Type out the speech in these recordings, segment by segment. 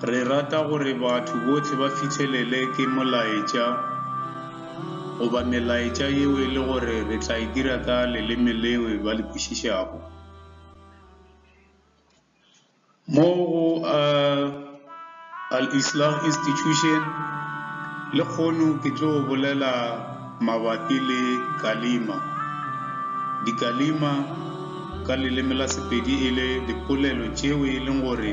Re rata gore batho bohle ba fihlelele ke molaetša goba melaetša yeo e le gore re tla e dira ka leleme leo ba le kwešišago. Mo go Al Islah Institution lekgono ke tlo bolela mabapi le Kalima. Dikalima ka leleme la Sepedi e le dipolelo tšeo e leng gore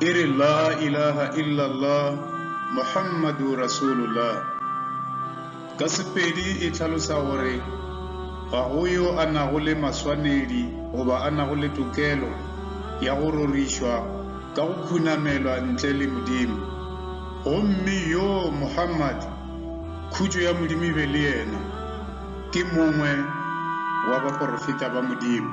E re, La ilaha illallah, Muhammadu Rasulullah. Ka Sepedi e hlalosa gore, Ga go yo a nago le maswanedi goba a nago le tokelo ya go rorišwa ka go khunamelwa ntle le Modimo. Gomme yo, Muhammad, khutšo ya Modimo e be le yena, ke mongwe wa baporofeta ba Modimo.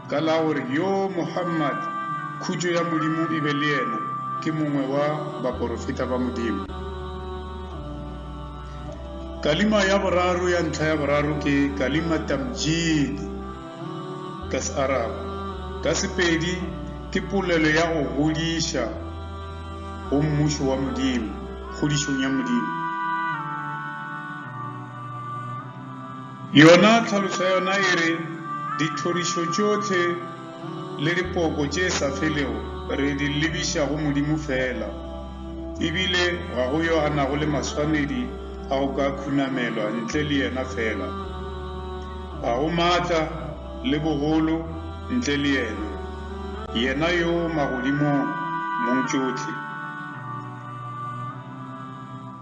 Ka la go re, Yo, Muhammad, khutšo ya Modimo e be le yena, ke mongwe wa baporofeta ba Modimo. Kalima ya boraro ya ntlha ya boraro ke kalima tamjid, ka Searabu. Ka Sepedi ke polelo ya go godiša go Mmušo wa Modimo, kgodišong ya Modimo. Yona tlhaloso ya yona e re, Dithorišo tšohle le dipoko tše sa felego re di lebiša go Modimo feela, e bile ga go yo a nago le maswanedi a go ka khunamelwa ntle le yena feela. Ga go maatla le bogolo ntle le yena, yena yo magodimong mong tšohle.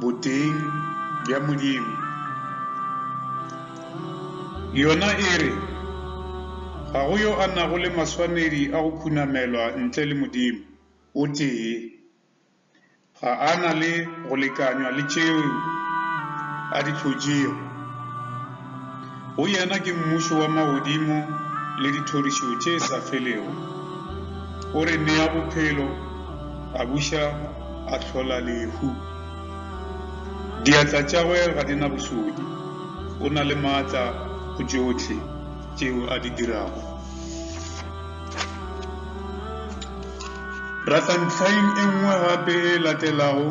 Boteng bja Modimo. Yona e re, Ga go yo a nago le maswanedi a go khunamelwa ntle le Modimo o tee. Ga a na le go lekanywa le tšeo a di hlotšego. Go yena ke mmušo wa magodimo le dithorišo tše sa felego. O re nea bophelo, a buša, a hlola lehu. Diatla tšagwe ga di na bosodi, o na le maatla go tšohle tšeo a di dirago. Ratha ntlhaing e nngwe gape e latelago.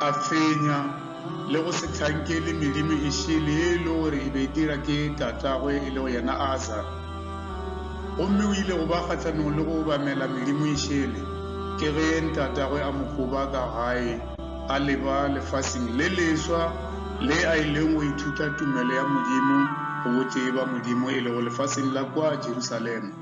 a fenya le go se hlankele medimo e šele e le gore e be e dira ke tatagwe e lego yena aza gomme o ile go ba kgahlanong le go obamela medimo e šele ke ge ntatagwe a mogoba ka gae a leba lefaseng le leswa le a e leng go ithuta tumelo ya modimo go botee ba modimo e lego lefaseng la kwa jerusalema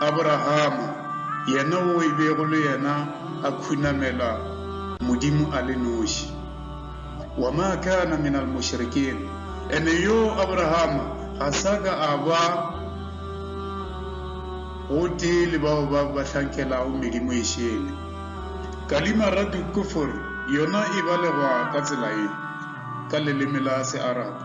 Aborahama, yena wo e bego le yena a khunamela Modimo a le noši. Wa ma kana min al mushrikin, ene yo Aborahama ga sa ka a ba gotee le bao ba ba hlankelago medimo ye šele. Kalimaratu kufr yona e balegwa ka tsela ye ka leleme la Searabu.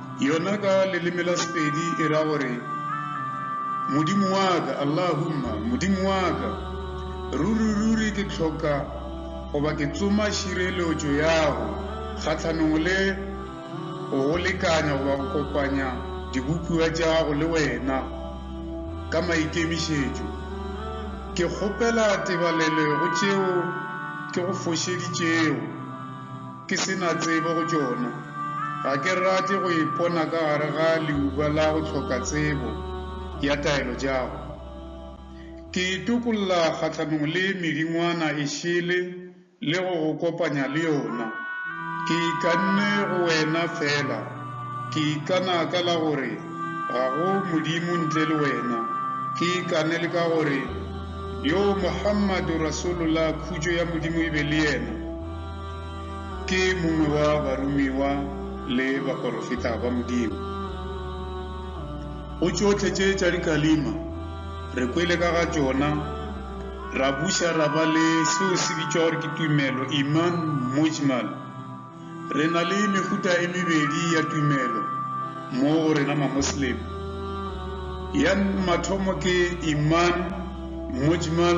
Yona ka leleme la Sepedi e ra gore, Modimo wa ka, Allahumma, Modimo wa ka, ruri-ruri ke hloka goba ke tsoma šireletšo yago kgahlanong le go go lekanya goba go kopanya dibopiwa tšago le wena ka maikemišetšo. Ke kgopela tebalelo go tšeo ke go fošeditšego. Ke se na tsebo go tšona. Ga ke rate go ipona ka gare ga leuba la go hloka tsebo ya taelo jago. Ke itokolla kgahlanong le medingwana e šele le go go kopanya le yona. Ke ikanne go wena feela. Ke ikana ka la gore ga go Modimo ntle le wena. Ke ikane le ka gore, Yo Muhammadu Rasulullah, khutšo ya Modimo e be le yena, Ke mongwe wa baromiwa le baporofeta ba Modimo. Go tšohle tše tša dikalima re kwele ka ga tšona, ra buša ra ba le seo se bitšwa gore ke tumelo, iman mujmal. Re na le mehuta e mebedi ya tumelo mo go rena Mamoslem. Ya mathomo ke iman mujmal.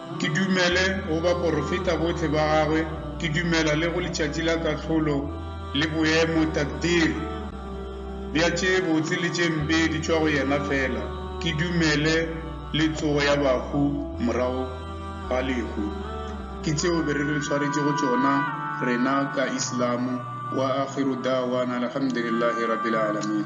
Ke dumele go baporofeta bohle ba Gagwe, ke dumela le go Letšatši la Kahlolo le boemo, takdir, bja tše botse le tše mpe di tšwa go Yena feela. Ke dumele le tsogo ya bahu morago ga lehu. Ke tšeo be re re swaretše go tšona rena ka Islamo. Wa Akhiru Da'wana Alhamdulillahi Rabbil Alameen.